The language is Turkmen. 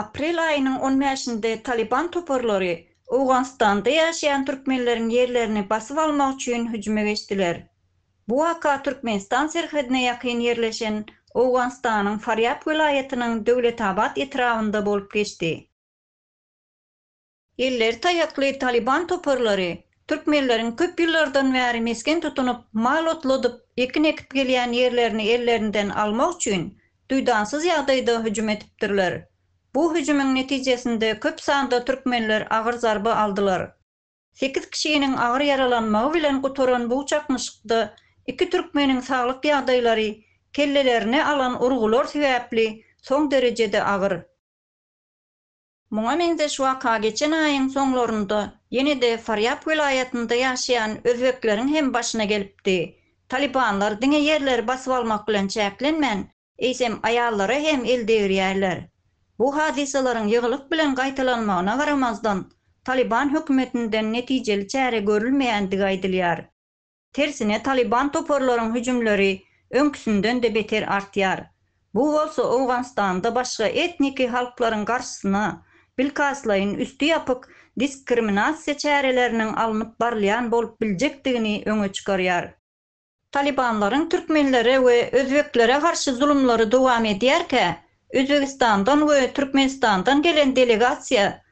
Aprel aýynyň on bäşinde Talyban toparlary Owganystanda ýaşaýan türkmenleriň ýerlerini basyp almak üçin hüjüme geçdiler. Bu waka Türkmenistan serhedine ýakyn ýerleşen Owganystanyň Farýab welaýatynyň Döwletabat etrabynda bolup geçdi. Elleri taýakly Talyban toparlary türkmenleriň köp ýyllardan bäri mesgen tutunyp, mal otladyp, ekin ekip gelýän ýerlerini ellerinden almak üçin duýdansyz ýagdaýda hüjüm edipdirler. Bu hüjümiň netijesinde köp sanda türkmenler agyr zarba aldylar. Sekiz kişiniň agyr ýaralanmagy bilen gutaran bu çaknyşykda iki türkmeniň saglyk ýagdaýlary kellelerine alan urgular sebäpli soň derejede agyr. Muňa meňzeş waka geçen aýyň soňlarynda ýene-de Farýap welaýatynda ýaşaýan özbekleriň hem başyna gelipdi. Talybanlar diňe ýerleri basyp almak bilen çäklenmän, eýsem aýallara hem el degirýärler. Bu hadysalaryň ýygylyk bilen gaýtalanmagyna garamazdan, Talyban hökümetinden netijeli çäre görülmeýändigi aýdylýar. Tersine Talyban toparlaryň hüjümleri öňküsinden-de beter artýar. Bu bolsa Owganystanda başga etniki halklaryň garşysyna bilkastlaýyn üsti ýapyk diskriminasiýa çäreleriniň alnyp barylýan bolup biljekdigini öňe çykarýar. Talybanlaryň türkmenlere we özbeklere garşy zulumlary dowam edýärkä, Özbegistandan we Türkmenistandan gelen delegasiýa